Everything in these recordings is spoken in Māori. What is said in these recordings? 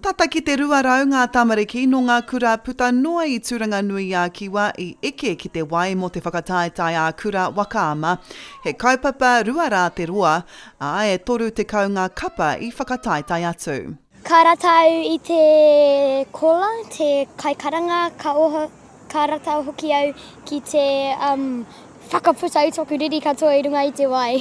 Tata ki te 200 ngā tamariki nō ngā kura puta noa i Tūranganui-ā-Kiwa i eke ki te wai mō te whakataetae ā-kura waka ama. He kaupapa rua rā te roa, ā, e 30 ngā kapa i whakataetae atu. Ka ratou i te kola, te kaikaranga, ka ratou hoki au ki te whakaputa i toku riri katoa i runga i te wai.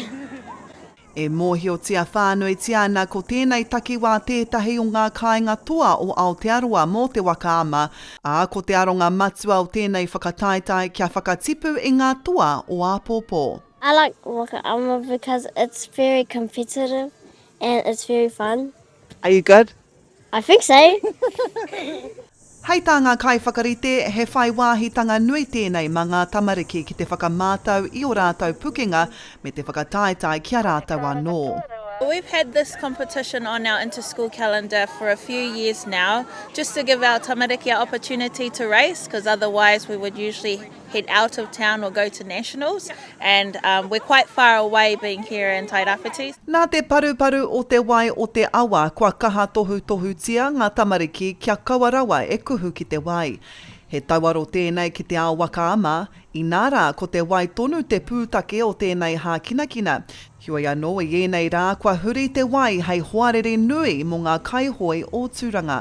E mōhiotia whānuitia ana ko tēnei takiwā tētahi o ngā kāinga toa o Aotearoa mō te waka ama, ā, ko te aronga matua o tēnei whakataetae kia whakatipu i ngā toa o āpōpō. I like waka ama because it's very competitive and it's very fun. Are you good? I think so. Hei tā ngā kaiwhakarite, he whai wāhitanga nui tēnei mā ngā tamariki ki te whakamātau i ō rātou pukenga me te whakataetae ki a rātou anō. We've had this competition on our interschool calendar for a few years now just to give our tamariki a opportunity to race cause otherwise we would usually head out of town or go to nationals and um, we're quite far away being here in Tairawhiti. Nā te paruparu o te wai o te awa kua kaha tohutohutia ngā tamariki kia kaua rawa e kuhu ki te wai. He tauaro tēnei ki te ao waka ama, inā rā ko te wai tonu te pūtake o tēnei hākinakina, heoi anō i ēnei rā kua huri te wai hei hoariri nui mō ngā kaihoe o Tūranga.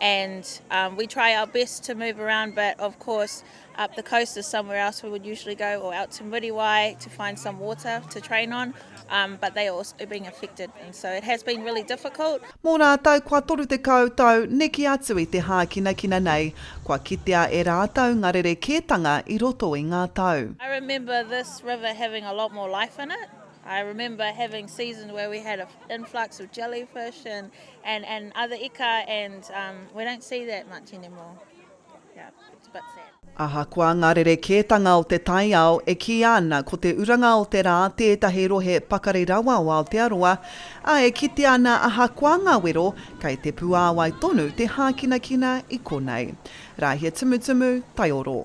and um, we try our best to move around but of course up the coast is somewhere else we would usually go or out to Muriwai to find some water to train on um, but they are also being affected and so it has been really difficult. Mō rātou kua 30 tau neke atu i te hākinakina nei, kua kitea e rātou ngā rerekētanga i roto i ngā tau. I remember this river having a lot more life in it. I remember having seasons where we had an influx of jellyfish and, and, and other ika and um, we don't see that much anymore. Yeah, it's a bit sad. Ahakoa ngā rerekētanga o te taiao e kīia ana ko te uranga o te rā tētahi rohe pakari rawa o Aotearoa, ā, e kitea ana ahakoa ngā wero, kei te puāwai tonu te hākinakina i konei. Rāhia tumutumu, taioro.